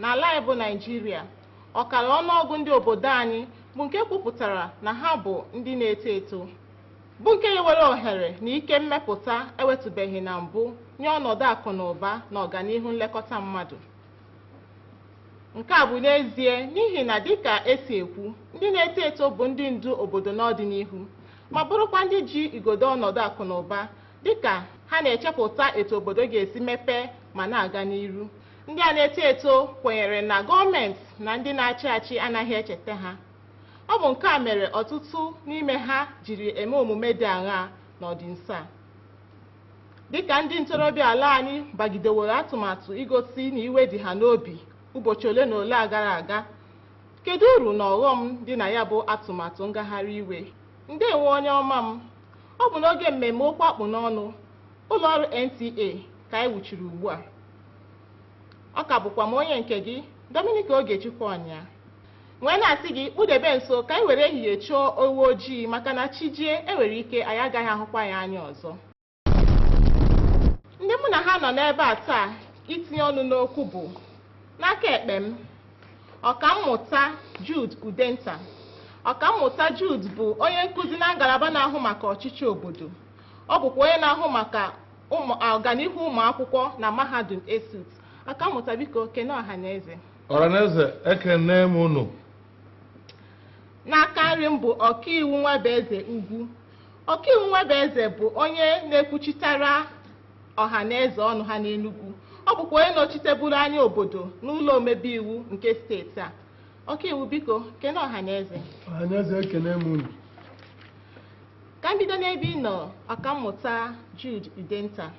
N'ala anyị bụ Naịjirịa, ọkara ọnụọgụ ndị obodo anyị bụ nke kwupụtara na ha bụ ndị na-eto eto, bụ nke nyewere ohere na ike mmepụta enwetụbeghị na mbụ nye ọnọdụ akụ na ụba na ọganihu nlekọta mmadụ. Nke a bụ n'ezie n'ihi na dịka esi ekwu, ndị na-eto eto bụ ndị ndu obodo n'ọdịnihu ma bụrụkwa ndị ji igodo ọnọdụ akụ na ụba dịka ha na-echepụta etu obodo ga-esi mepee ma na-aga n'iru. Ndị a na-eto eto kwenyere na gọọmenti na ndị na-achị achị anaghị echeta ha. Ọ bụ nke a mere ọtụtụ n'ime ha jiri eme omume dị aṅaa n'ọdịnso a. Dị ka ndị ntorobịa ala anyị bagideworo atụmatụ igosi na iwe dị ha n'obi ụbọchị ole na ole a gara aga, kedu uru na ọghọm dị na ya bụ atụmatụ ngagharị iwe? Ndewo onye ọma m. Ọ bụ n'oge mmemme okwu akpụ n'ọnụ Ụlọọrụ NTA ka anyị wuchiri ugbu a. Ọ ka bụkwa m onye nke gị, Dominic Ogechukwu Ọnya. wee na-asị gị kpudebe nso ka anyị were ehihie chọọ ewu ojii maka na chi jie enwere ike anyị agaghị ahụkwa ya anya ọzọ. Ndị mụ na ha nọ n'ebe a taa itinye ọnụ n'okwu bụ n'aka ekpe m ọkammụta Jude Udenta ọkammụta Jude bụ onye nkụzi na ngalaba na-ahụ maka ọchịchị obodo Ọ bụkwa onye na-ahụ maka ọganihu ụmụ akwụkwọ na mahadum ESUT. Ọkammụta biko kene ọhaneze. Ọhaneze ekene m unu. N'aka nri m bụ ọkaiwu Nwabueze Ugwu. Ọkaiwu Nwabueze bụ onye na-ekwuchitara ọha na eze ọnụ ha n'Enugwu. Ọ bụkwa onye nọchiteburu anya obodo n'ụlọ omebe iwu nke steeti a. Ọkaiwu biko, kene ọha na eze. Ọha na eze ekene m unu. ka m bido n'ebe ị nọ ọkammụta Jude Udenta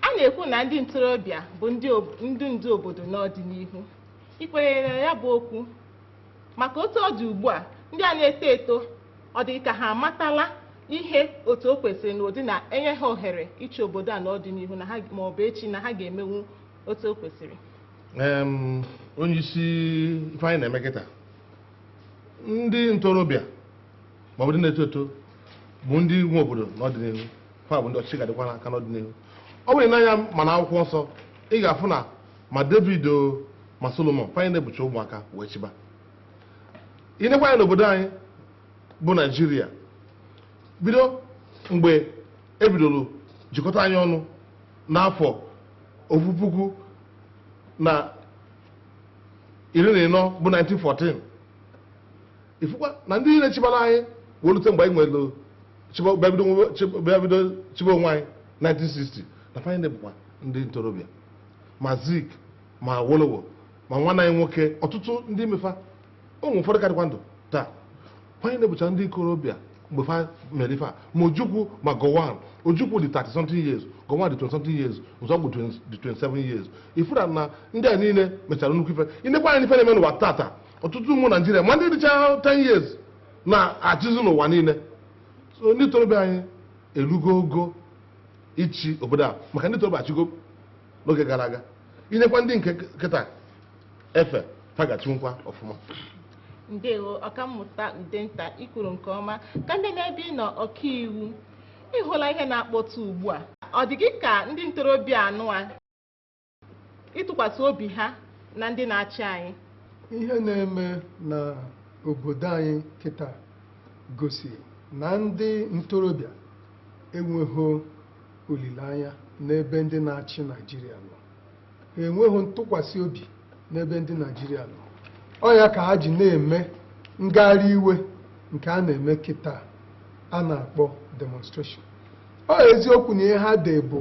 a na-ekwu na ndị ntorobịa bụ ndị ob- ndị ndu obodo n'ọdịnihu i kwenyere na ya bụ okwu maka otu ọ dị ugbu a ndị a na-eto eto ọ dị ka ha amatala ihe otu o kwesịrị na ụdị na e nye ha ohere ịchị obodo a n'ọdịnihu na ha ma ọ bụ echi na ha ga-emenwu otu o kwesịrị Em, onye isi ife anyị na-eme kịta ndị ntorobịa ma ọ bụ ndị na-eto eto bụ ndị nwe obodo n'ọdịnihu ha bụ ndị ọchịchị ga-adịkwa n'aka n'ọdịnihu ọ bụrụ i nee anya ma na akwụkwọ nsọ ị ga-afụ na ma david o ma solomon fa niine bụcha ụmụaka wee chịba i nekwa anya n'obodo anyị bụ naijiria bido mgbe ebidoro jikọta anyị ọnụ n'afọ ofu puku na iri na ịnọ bụ 1914 ị fụkwa na ndị niile chịbara anyị wee rute mgbe anyị nwere bịa bido chịba onwe anyị 1960 na fa niile bụkwa ndị ntorobịa ma zik ma awolowo ma nwanne anyị nwoke ọtụtụ n'ime fa ụmụ ụfọdụ ka dịkwa ndụ taa fa niile bụcha ndị ikorobịa mgbe fa mere ife a ma ojukwu ma gowon ojukwu dị 30 something years gowon dị 20 something years nzeogwu dị 27 years ị fụrụ na ndị a niile mechara nnukwu ife i nekwaa anya ife na-eme n'ụwa tata ọtụtụ ụmụ naijiria ma ndị dịcha 10 years na-achịzi n'ụwa niile so ndị ntorobịa anyị erugo ogo ịchị obodo a maka ndị ntorobịa achịgo n'oge gara aga i nyekwa ndị nke kịta efe fa ga-achịnwukwa ọfụma ndewo ọkammụta udenta i kwuru nke ọma ka m jee n'ebe ị nọ ọkaiwu ị hụla ihe na-akpọtụ ugbu a ọ dị gị ka ndị ntorobịa anụ a ịtụkwasị obi ha na ndị na-achị anyị ihe na-eme na obodo anyị kịta gosi na ndị ntorobịa enweghị olileanya n'ebe ndị na-achị Naịjirịa nọ enweghị ntụkwasị obi n'ebe ndị Naijiria nọ ọ ya ka ha ji na-eme ngagharị iwe nke a na-eme kịta a na-akpọ demonstration ọ eziokwu na ihe ha dere bụ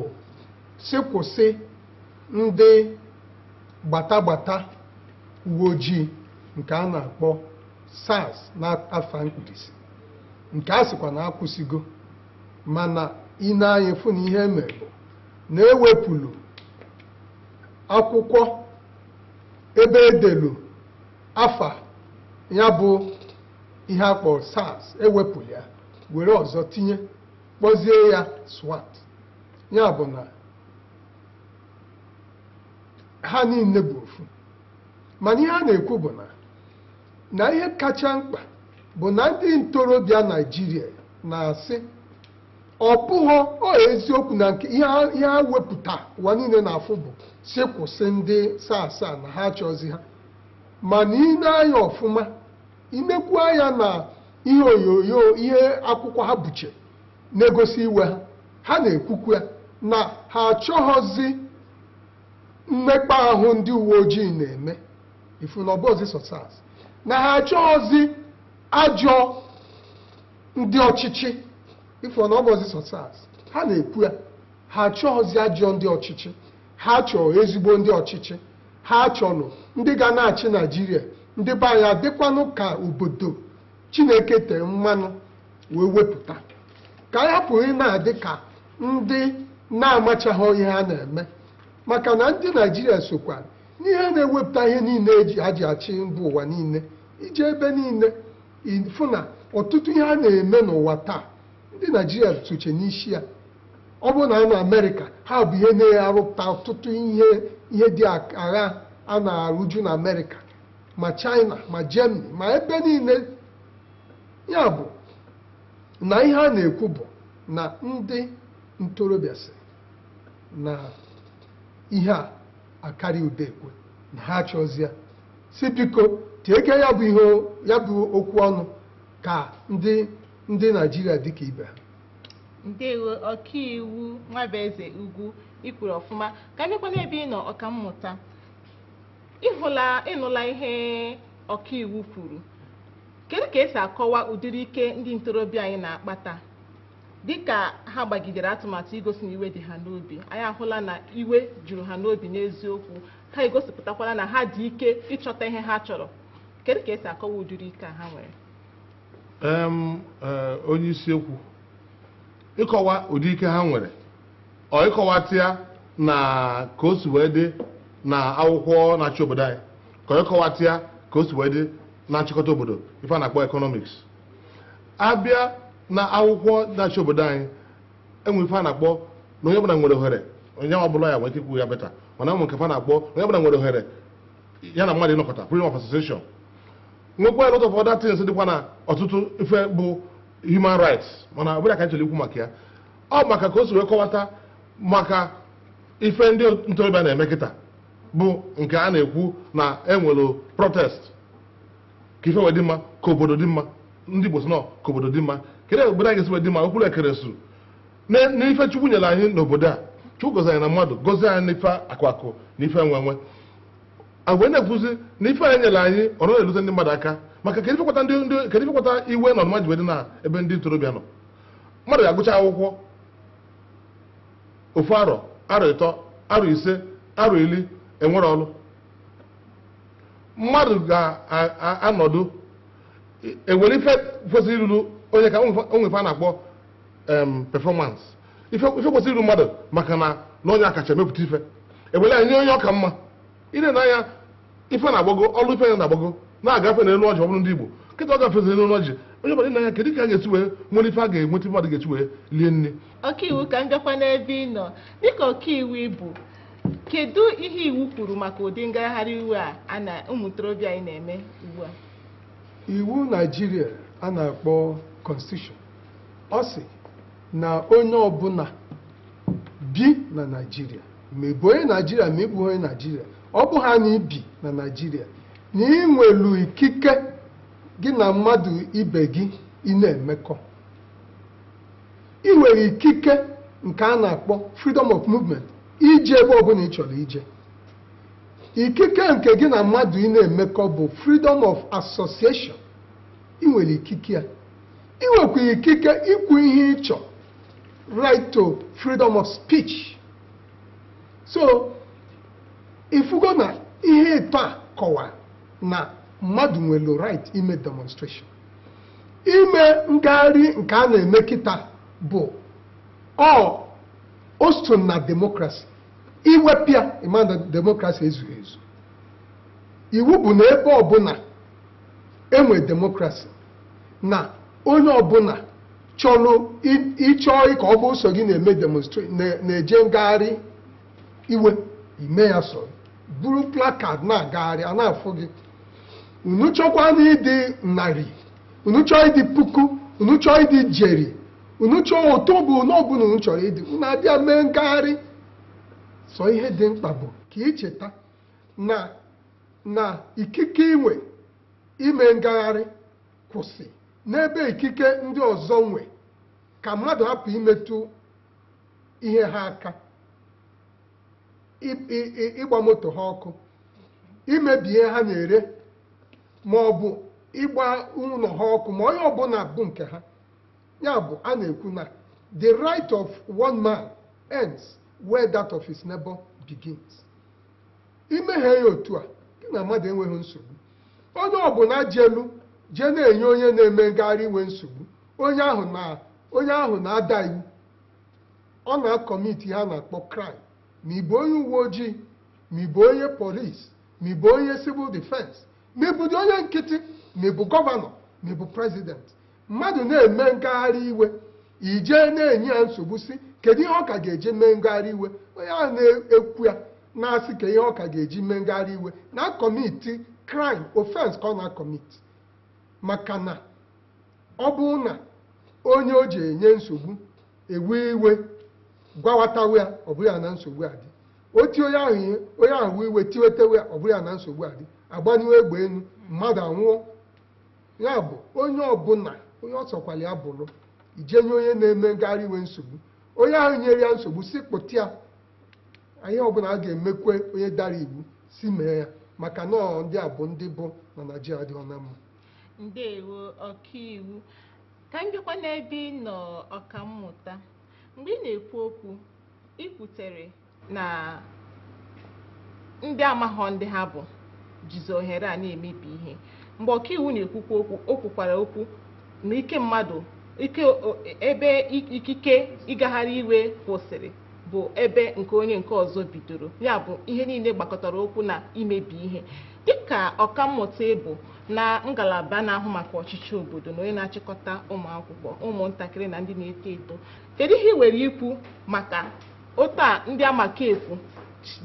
sị kwụsị ndị gbata gbata uwe ojii nke a na-akpọ SARS n'afa mkpirisi nke a sịkwa na akwụsịgo mana i nee anya fụ na ihe mere bụ na e wepụlụ akwụkwọ ebe e delu afa ya bụ ihe a kpọrọ SARS e wepụ ya were ọzọ tinye kpọzie ya SWAT ya bụ na ha niile bụ ofu mana ihe a na-ekwu bụ na na ihe kacha mkpa bụ na ndị ntorobịa Naijiria na-asị ọ bụghị ọ eziokwu na nke ihe ha wepụta ụwa niile na-afụ bụ sị kwụsị ndị SARS a na ha achọzi ha mana i nee anya ọfụma i nekwu anya na ihe onyonyo ihe akwụkwọ ha bucha na-egosi iwe ha ha na-ekwukwu ya na ha achọghọzi mmekpa ahụ ndị uwe ojii na-eme ị fụ na ọ bụghịzi sọ SARS na ha achọghịzi ajọ ndị ọchịchị ị fụ na ọ bụghịzi sọ SARS ha na-ekwu ya ha achọghịzi ajọ ndị ọchịchị ha chọrọ ezigbo ndị ọchịchị ha chọrọ ndị ga na-achị naijiria ndị be anyị adịkwanụ ka obodo chineke tee mmanụ wee wepụta ka anyị hapụ ịna-adị ka ndị na-amachaghị ihe ha na-eme maka na ndị naijiria sokwa n'ihe na-ewepụta ihe niile eji ha ji achị mba ụwa niile ije ebe niile ịfụ na ọtụtụ ihe a na-eme n'ụwa taa ndị naijiria socha n'isi ya ọ bụrụ na a nọ amerịka ha bụ ihe na-arụpụta ọtụtụ ihe ihe dị agha a na-arụju na amerịka ma china ma germany ma ebe niile ya bụ na ihe a na-ekwu bụ na ndị ntorobịa sị na ihe a akarị udekwe na ha achọzị ya sị biko tieke ya bụ ihe ya bụ okwu ọnụ ka ndị ndị naijiria dịka ibe ha ndewo ọkaiwu nwabueze ugwu ikwuru ọfụma ka m jekwa n'ebe ị nọ ọkammụta ịhụla ịnụla ihe ọkaiwu kwuru kedu ka esi akọwa ụdịrị ike ndị ntorobịa anyị na-akpa taa Dịka ha gbagidere atụmatụ igosi na iwe dị ha n'obi, anyị ahụla na iwe juru ha n'obi n'eziokwu, ha egosipụtakwala na ha dị ike ịchọta ihe ha chọrọ. Kedu ka esi akọwa ụdịrị ike a ha nwere? Em, eh, onye isi okwu ịkọwa ụdị ike ha nwere ọ ịkọwata ya na ka o si wee dị na akwụkwọ na-achị obodo anyị ka ọ ịkọwata ya ka o si wee dị na nchịkọta obodo ife a na-akpọ economics abịa na akwụkwọ na-achị obodo anyị enwe ife a na-akpọ na onye ọbụla nwere ohere onye ọ bụla ya nwere ike ikwu ya beta mana enwe nke fa na-akpọ na onye ọbụla nwere ohere ya na mmadụ ịnọkọta freedom of association nwekwa a lot of other things dịkwa na ọtụtụ ife bụ human rights mana ọ bụrọ ya ka anyị chọrọ ikwu maka ya ọ bụ maka ka o si wee kọwata maka ife ndị ntorobịa na-eme kịta bụ nke a na-ekwu na enwere protest ka ife wee dị mma ka obodo dị mma ndị Igbo sị na ọ ka obodo dị mma kedu obodo anyị ga-esi wee dị mma okpuru ekere su n'ife Chukwu nyere anyị n'obodo a Chukwu gọzi anyị na mmadụ gọzie anyị n'ife akụ akụ na ife enwe enwe e wee na-ekwuzi na ife anyị nyere anyị ọ naghị erute ndị mmadụ aka maka kedu ife kpata ndị ndị kedu ife kpata iwe na ọnụma ji wee dị na ebe ndị ntorobịa nọ mmadụ ga-agụcha akwụkwọ ofu arọ arọ ịtọ arọ ise arọ iri enwerọ ọrụ mmadụ ga-anọdụ ewere ife kwesịrị iruru onye ka o nwe ife a na-akpọ performance ife kwesịrị iru mmadụ maka na na onye a kacha emepụta ife ewere ya nye onye ọ ka mma ile na anya ife na-agbago ọnụ ife ya na-agbago na-agafe na elu ọjị ọ bụrụ ndị Igbo kịta ọ gafezi elu ọjị onye ọbụla na ya kedu ka a ga-esi wee nwere ife a ga-enweta mmadụ ga-esi wee lie nni ọkaiwu ka m bịakwa n'ebe ị nọ dịka ọkaiwu ịbụ kedu ihe iwu kwuru maka ụdị ngagharị iwe a a na ụmụ ntorobịa anyị na-eme ugbu a iwu naijiria a na-akpọ constitution ọ sị na onye ọbụla bi na naijiria ma ị bụ onye naijiria ma ị bụ onye naijiria ọ bụ haa na i bi na naijiria na ị nwelu ikike gị na mmadụ ibe gị ịna-emekọ ị nwere ikike nke a na-akpọ freedom of movement ije ebe ọbụla ị chọrọ ije ikike nke gị na mmadụ ịna-emekọ bụ freedom of association ị nwere ikike ya ị nwekwuru ikike ikwu ihe ị chọrọ right to freedom of speech so ị fụgo na ihe ịtọ a kọwara na mmadụ nwere right ime demonstration ime ngagharị nke a na-eme kịta bụ ọ o so na demokrasi i wepụ ya ị ma na demokrasi ezughị ezu iwu bụ na ebe ọbụla e nwe demokrasi na onye ọbụla chọrọ i- ị chọọ ka ọ bụ sọ gị na-eme demonstra- na- na-eje ngagharị iwe i mee ya so buru placard na-agagharị a na-afụ gị unu chọkwanụ ịdị narị unu chọọ ịdị puku unu chọọ ịdị ijeri unu chọọ otu ọbụna ọbụna unu chọrọ ịdị unu abịa mee ngagharị sọ ihe dị mkpa bụ ka i cheta na na ikike i nwe ime ngagharị kwụsị n'ebe ikike ndị ọzọ nwe ka mmadụ hapụ imetụ ihe ha aka ị- ị- ị- ịgba moto ha ọkụ imebi ihe ha na-ere ma ọ bụ ịgba ụlọ ha ọkụ ma ihe ọbụla bụ nke ha ya bụ a na-ekwu na the right of one man ends where that of his neighbor begins i mehaa ya otu a gị na mmadụ enweghị nsogbu onye ọbụla jelu jee na-enye onye na-eme ngagharị iwe nsogbu onye ahụ na onye ahụ na-ada iwu ọ na-akọmiti ihe a na-akpọ crime ma ị bụ onye uwe ojii ma ị bụ onye police ma ị bụ onye civil defense ma ị bụdị onye nkịtị ma ị bụ gọvanọ ma ị bụ president mmadụ na-eme ngagharị iwe i jee na-enye ya nsogbu sị kedu ihe ọ ka ga-eji mee ngagharị iwe onye ahụ na-ekwu ya na-asị kedu ihe ọ ka ga-eji mee ngagharị iwe na-akọmiti crime offense ka ọ na-akọmiti maka na ọ bụrụ na onye o ji enye nsogbu ewe iwe gwawatawa ya ọ bụrụ ya na nsogbu adị o tie onye ahụ ihe onye ahụ wee iwe tiwetewe ya ọ bụrụ ya na nsogbu adị agbaniwe egbe elu mmadụ anwụọ ya bụ onye ọbụla onye ọ sọkwara ya bụrụ i jee nye onye na-eme ngagharị iwe nsogbu onye ahụ nyere ya nsogbu sị kpụta ya ihe ọbụla a ga-emekwe onye dara iwu sị mee ya maka na ndị a bụ ndị bụ na naijiria dị ọna mma Ndewo ọkaiwu. Ka m bịakwa n'ebe ị nọ ọkammụta. Mgbe ị na-ekwu okwu, i kwutere na ndị amaghọ ndị ha bụ jizi ohere a na-emebi ihe. Mgbe ọkaiwu na-ekwukwa okwu, o kwukwara okwu na ike mmadụ ike o- ebe i- ikike ịgagharị iwe kwụsịrị bụ ebe nke onye nke ọzọ bidoro ya bụ ihe niile gbakọtara okwu na imebi ihe dịka ọkammụta ị bụ na ngalaba na-ahụ maka ọchịchị obodo na onye na-achịkọta ụmụ akwụkwọ ụmụntakịrị na ndị na-eto eto kedu ihe i nwere ikwu maka otu a ndị amaka ekwu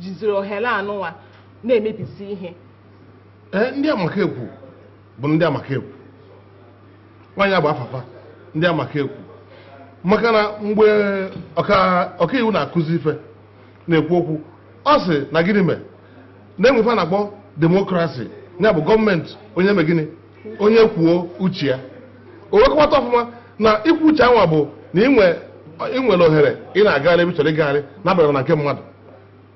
jiziri ohere anụnwa na-emebisi ihe Ee, ndị amaka ekwu bụ ndị amaka ekwu nwaanyị a bụ afa fa ndị amaka ekwu maka na mgbe ọka- ọkaiwu na-akụzi ife na-ekwu okwu ọ sị na gịnị mee na-enwe ife a na-akpọ demokrasi ya bụ gọọmenti onye mee gịnị onye kwuo uche ya o wee kọwata ọfụma na ikwu uche anwa bụ na i nwe i nwere ohere ị na-agagharị ebe ị chọrọ ịgagharị na-abarọ na nke mmadụ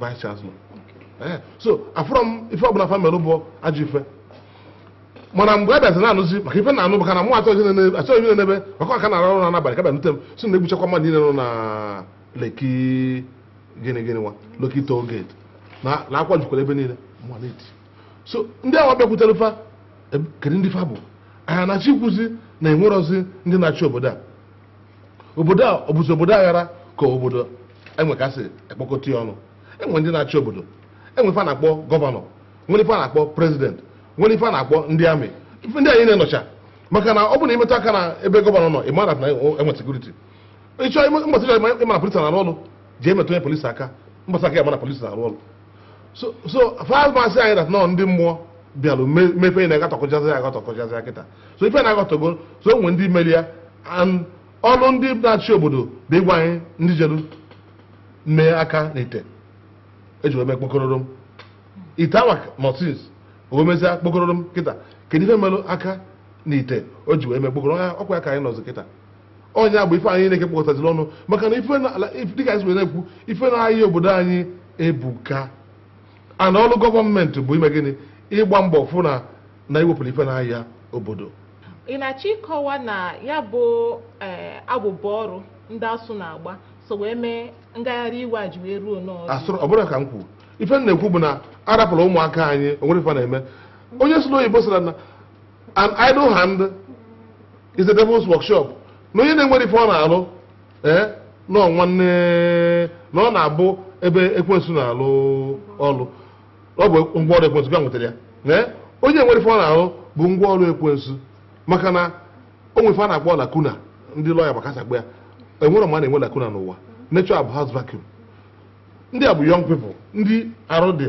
vice chancellor eh, so afụrọ m ife ọbụla fa mere bụ ajọ ife mana mgbe a bịazi na-anụzi maka ife na-anụ maka na mụ achọghị ife na-ebe maka ọka na-arụ ọrụ n'abalị ka bịanute m sị na e gbuchakwa mmadụ niile nọ na lekki gịnị gịnị nwa lekki toll gate na akwa jukwara ebe niile so ndị awa bịakwutere fa e, kedu ndị fa bụ anyị na-achọ ikwuzi na enwerọzi ndị na-achị obodo a obodo a ọ bụzi obodo aghara ka obodo enwe ka sị ekpọkọta ya ọnụ e nwe ndị na-achị obodo e nwe ife a na-akpọ gọvanọ nwere ife a na-akpọ prezident nwere ife a na-akpọ ndị amị ife ndị anyị na-enọcha maka na ọ bụ na i metụ aka na ebe gọvanọ nọ ị mara na e nwe sekuriti ịchọ mgbasa ị chọọ ịma na polisi na-arụ ọrụ jee metụ onye polisi aka mgbasa ka ị ya-ama na polisi na-arụ ọrụ so so fa ama asị anyị dat na ọ ndị mmụọ bịalụ me- mee ife ị na-agatọkọchazi ya agatọkọchazi ya kịta so ife na-agatọgo so o nwere ndị meli ya and ọrụ ndị na-achị obodo bụ ịgwa anyị ndị jelu mee aka na ite o ji wee mee kpokororom ite awa mọtins o wee mezie kpokororom kịta kedu ife melụ aka na ite o ji wee mee kpokoro ọkwa ya ka anyị nọzi kịta ọ nya bụ ife a niine ka e kpokọtaziri ọnụ maka na dịka anyị si na-ekwu ife na-aya obodo anyị ebuka and ọrụ gọọmenti bụ ime gịnị ịgba mbọ fụ na na e wepụrụ ife na-aya obodo ị na-achọ ịkọwa na ya bụ eh, abụbọ ọrụ ndị ASUU na-agba so wee mee ngagharị iwe a ji wee ruo n'ọzọ ọ bụrụ ka m kwuru ife m na-ekwu bụ na a rapụrụ ụmụaka anyị enwerọ ife fa na-eme onye sụrụ oyibo sịrị na an idle hand is the devil's workshop na onye na-enwerọ ife ọ na-alụ ee na ọ nwanne na ọ na-abụ ebe ekwensu na-alụ ọlụ ọ bụ ngwa ọrụ ekwensu ị nwetara ya ee onye enwerọ ife ọ na-alụ bụ ngwa ọrụ ekwensu maka na o nwe ife a na-akpọ lacuna ndị lọya gbakasa gba ya enwere ma a na-enwe lacuna n'ụwa nature abhors vacuum ndị a bụ young people ndị arụ dị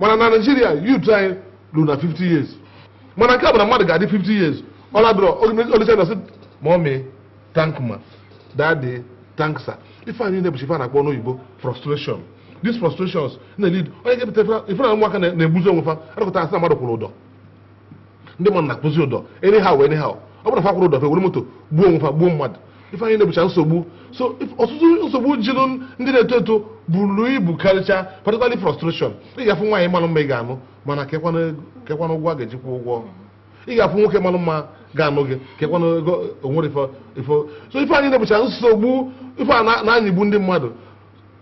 mana na Nigeria youth anyị lulu na 50 years mana nke a bụ na mmadụ ga-adị 50 years ọ nọdụrụ o lisie sị mommy thank ma daddy thank sir ife a niine bụcha ife a na-akpọ n'oyibo frustration these frustrations na-elead ọ nya ga-ebute ife na ụmụaka na-egbuzi onwe fa a nọkata a sị na mmadụ kwụrụ ụdọ ndị mmadụ na-akwụzi ụdọ anyhow anyhow ọ bụrụ na fa kwụrụ ụdọ fa ewere moto gbuo onwe fa gbuo mmadụ ife a niine bụcha nsogbu so if- ọtụtụ nsogbu jilụ ndị na-eto eto buru ibu karịcha particularly frustration ị ga-afụ nwaanyị malụ mma ị ga-anụ mana kekwana ego- kekwana ụgwọ a ga-eji kwụọ ụgwọ ị ga-afụ nwoke malụ mma ga-anụ gị kekwana ego o nwere ifo ifo so ife a niine bụcha nsogbu ife a niine na-anyịgbu ndị mmadụ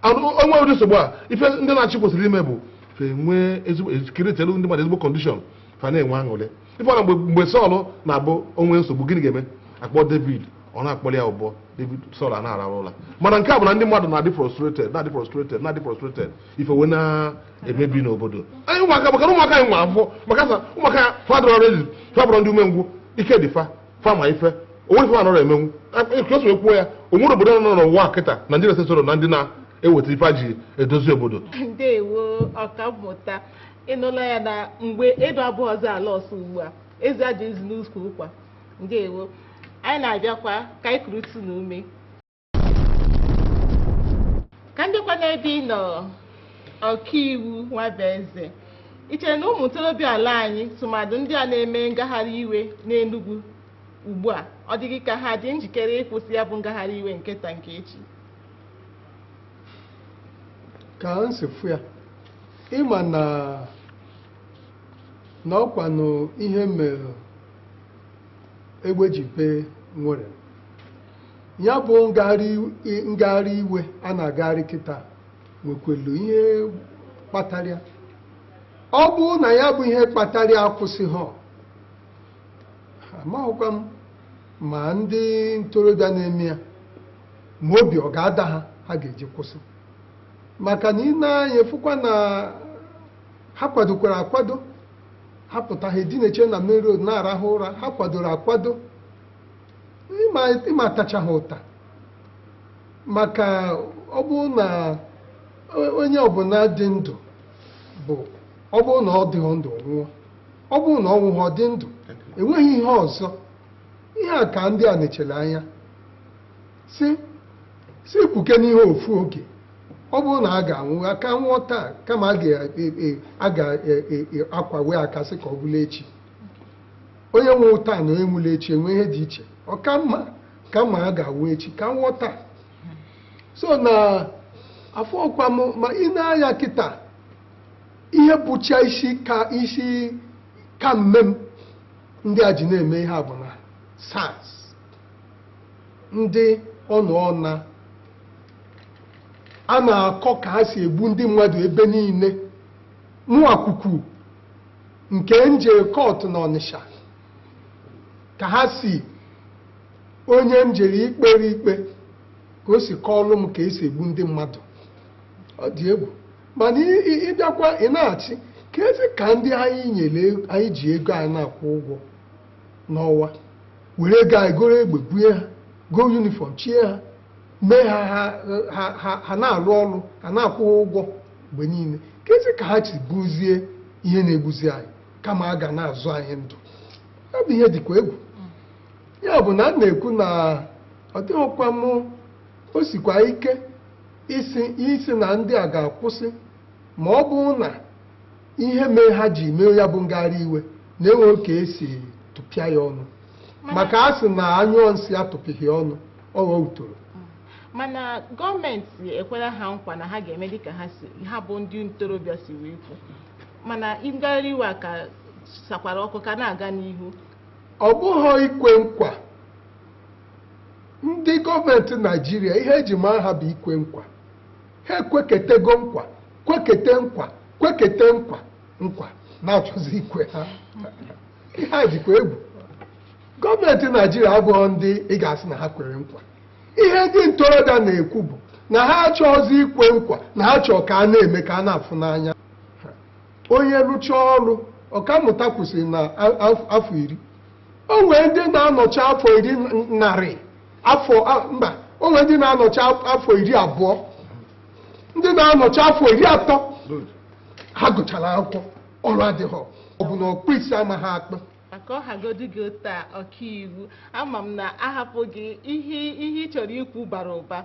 e nwee ụdị nsogbu a ife ndị na-achị kwesịrị ime bụ fa enwee ezigbo ecreatelụ ndị mmadụ ezigbo condition fa na-enwe aṅụrị ị fụrọ na mgbe Sọl na-abụ o nwee nsogbu gịnị ga-eme a kpọọ David ọ na-akpọlụ ya ụbọ David Sọl a na-ararụ ụla mana nke a bụ na ndị mmadụ na-adị frustrated na-adị frustrated na-adị frustrated ife wee na-emebi n'obodo anyị ụmụaka maka na ụmụaka anyị nwa afọ maka sa ụmụaka ya fa dị ready fa abụrọ ndị umengwụ ike dị fa fa ma ife o nwerọ ife fa anarọ emenwu ka e si wee kwuo ya o nwerọ obodo nọ n'ụwa kịta Nigerians esorọ na ndị na-eweta ife e ji edozi obodo ndewo ọkammụta ị nụla ya na mgbe edo abụọ ọzọ ala ọsọ ugbu a ezi adịghịzi n'ukwu ụkwa ndewo anyị na-abịakwa ka anyị kurutụ ume ka m dịkwa n'ebe ị nọ ọkaiwu Nwabueze i chere na ụmụ ntorobịa ala anyị tụmadụ ndị a na-eme ngagharị iwe n'Enugu ugbu a ọ dịghị ka ha dị njikere ịkwụsị ya bụ ngagharị iwe nke taa nke echi ka m si fụ ya ị ma na na ọkwanụ ihe mere egbe ji bee nwere ya bụ ngagharị iwe a na-agagharị kịta nwekwelu ihe kpatara ya ọ bụrụ na ya bụ ihe kpatara ya akwụsịghị amaghịkwa m ma ndị ntorobịa na-eme ya ma obi ọ ga-ada ha ha ga-eji kwụsị maka na i nee anya ị fụkwa na ha kwadokwara akwado ha pụta ha edineche na main road na-arahụ ụra ha kwadoro akwado ị ma-atacha ha ụta maka ọ bụrụ na onye ọbụla dị ndụ bụ ọ bụrụ na ọ dịghị ndụ nwụọ ọ bụrụ na ọ nwụghị ọ dị ndụ enweghị ihe ọzọ ihe a ka ndị a nechere anya si si kpuke n'ihe ofu oge ọ bụrụ na a ga-anwụ ka a nwụọ taa kama a ga-akwawe aka sị ka ọ bụlụ echi onye nwụrụ taa na onye nwụrụ echi enweghị ihe dị iche ọ ka mma kama a ga-anwụ echi ka a nwụọ taa so na afọ ọkwa m ma i nee anya kịta ihe bụcha isi ka mme m ndị a ji na-eme ihe a bụ na SARS ndị ọnụ ọna a na-akọ ka ha si egbu ndị mmadụ ebe niile mụwa akụkọ nke m jere kọtụ n'Ọnịsha ka ha si onye m jere ikpere ikpe ka o si kọọlụ m ka e si egbu ndị mmadụ ọ dị egwu mana ị- ị- ị bịakwa ị na-asị kezi ka ndị anyị nyere ego- anyị ji ego anyị na-akwụ ụgwọ n'ọnwa were ego anyị goro egbe bunye ha goo yunifọm chie ha mee ha na-alụ ọlụ a na-akwụ ha ụgwọ mgbe niile kezi ka ha si bụzie ihe na-egbuzi anyị kama ha ga na-azọ anyị ndụ ọ bụ ihe dịkwa egwu ya bụ na m na-ekwu na ọ dịkwa m o sikwa ike ịsị na ndị a ga-akwụsị ma ọ bụrụ na ihe mere ha ji mee ya bụ ngagharị iwe na enweghị ka e si tụpịa ya ọnụ maka a sị na a nyụọ nsị atụpịghị ọnụ ọ ghọọ otoro mana gọọmenti ekwela ha nkwa na ha ga-eme dịka ha bụ ndị ntorobịa si wee kwu mana ngagharị iwe a ka sakwara ọkụ ka na-aga n'ihu ọ bụghị ikwe nkwa ndị gọọmenti Naịjirịa ihe e ji maa ha bụ ikwe nkwa ha ekweketego nkwa kwekete nkwa kwekete nkwa nkwa na-achọzi ikwe ha ihe a dịkwa egwu gọọmenti naijiria abụhọ ndị ị ga-asị na ha kwere nkwa ihe ndị ntorobịa na-ekwu bụ na ha achọghịzi ikwe nkwa na ha chọọ ka a na-eme ka a na-afụ n'anya onye rụchaa ọrụ ọkammụta kwụsịrị na afọ iri o nwee ndị na-anọcha afọ iri narị afọ mba o nwee ndị na-anọcha afọ iri abụọ ndị na-anọcha afọ iri atọ ha gụchara akwụkwọ ọrụ adịghị ọ bụ na ọkpụ isi amaghị akpụ ma ka ọ hagodu gị otu a ọkaiwu ama m na a hapụ gị ihe ihe ị chọrọ ikwu bara ụba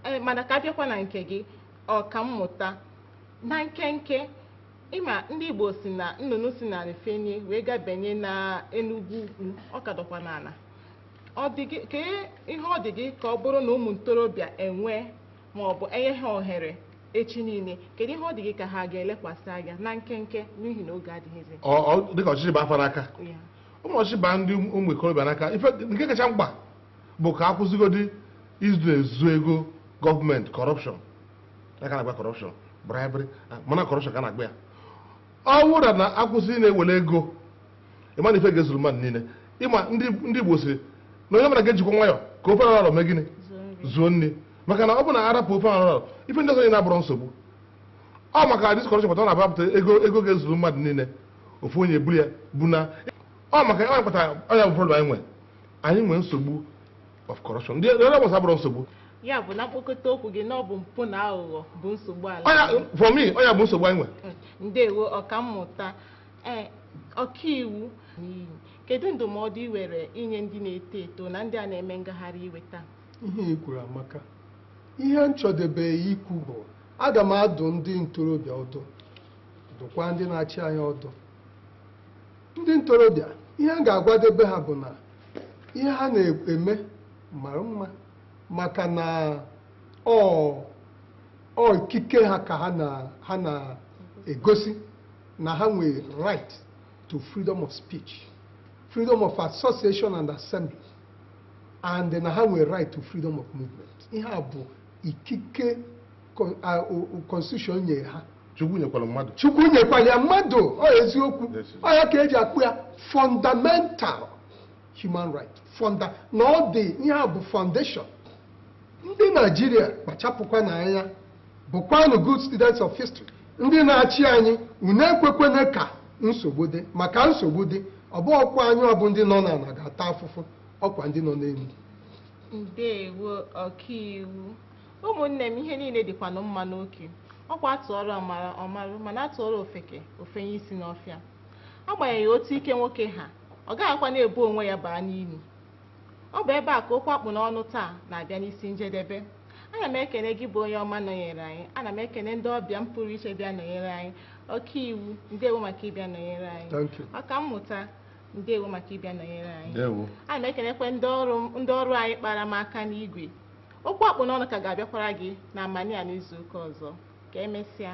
Ee, mana ka a bịakwa na nke gị ọkammụta na nkenke ị ma ndị igbo si na nnụnụ si n'ala fenie wee ga benye na enugwu ukwu ọ ka dọkwa n'ala kedu ihe ọ dị gị ka ọ bụrụ na ụmụ ntorobịa enwee ma ọ bụ e nye ha ohere echi niile kedu ihe ọ dị gị ka ha ga-elekwasị anya na nkenke n'ihi na oge adịghịzi dịka ọchịchị baa fa n'aka ụmụ ọchịchị baa ndị ụmụ ikorobịa n'aka ife nke kacha mkpa bụ ka a kwụsịgodi izu ezu ego gọọmenti corruption aka na-agba corruption bribery mana corruption ka na-agba ya ọ bụrụ na a kwụsị na-ewere ego ị ma na ife ga-ezuru mmadụ niile ị ma ndị ndị Igbo siri na onye ọbụla ga-ejikwa nwayọ ka ofe arọrọ mee gịnị zuo nri maka na ọ bụ na a rapụ ofe arọrọ ife ndị ọzọ na-abụrụ nsogbu ọ maka this corruption pụta ọ na-abapụta ego ego ga-ezuru mmadụ niile ofu onye buru ya bụ na ọ maka ọ kpatara ọ nya bụ problem anyị nwere anyị nwere nsogbu of corruption ndị ọrụ ọgbasa abụrụ nsogbu ya bụ na mkpokọta okwu gị na ọ bụ mpụ na aghụghọ bụ nsogbu ala for me ọ nya bụ nsogbu anyị nwere ndewo ọkammụta ee ọkaiwu kedu ndụmọdụ i nwere inye ndị na-eto eto na ndị a na-eme ngagharị iwe taa ihe i kwuru amaka ihe m chọdebe ikwu bụ aga m adụ ndị ntorobịa ọdụ dụkwa ndị na-achị anyị ọdụ ndị ntorobịa ihe m ga-agwadebe ha bụ na ihe ha na-eme mara mma maka na ọ ọ ikike ha ka ha na ha na-egosi na ha nwere right to freedom of speech freedom of association and assembly and na ha nwere right to freedom of movement ihe a bụ ikike con- a- o- o- constitution nyere ha chukwu nyekwara mmadụ chukwu nyekwara ya mmadụ ọ eziokwu Yes, yes. ọ ya ka e ji akpọ ya fundamental human right funda na ọ dị ihe a bụ foundation ndị naijiria kpachapụkwanụ anya Bụkwanụ good students of history. Ndị na-achị anyị, unu ekwekwene ka nsogbu dị, maka nsogbu dị, ọ bụ ọkwa anyị ọ bụ ndị nọ n'ala ga-ata afụfụ, ọkwa ndị nọ n'elu. Ndewo ọkaiwu. Ụmụnne m ihe niile dịkwanụ mma n'oke. Ọkwa a tụọrọ ọmara ọ marụ mana a tụọrọ ofeke o fenye isi n'ọfịa. Agbanyeghị otu ike nwoke ha, ọ gaghịkwa na-ebu onwe ya baa n'ili. Ọ bụ ebe a ka okwu a kpụ n'ọnụ taa na-abịa n'isi njedebe. Ana m ekene gị bụ onye ọma nọnyere anyị. Ana m ekene ndị ọbịa m pụrụ iche bịa nọnyere anyị. Ọkaiwu, ndewo maka ịbịa nọnyere anyị. Thank you. Ọkammụta, ndewo maka ịbịa nọnyere anyị. Ndewo. Ana m ekenekwe ndị ọrụ m- ndị ọrụ anyị kpara m aka n'igwe. Okwu a kpụ n'ọnụ ka ga-abịakwara gị na amanị a n'izu ụka ọzọ. Ka emesịa.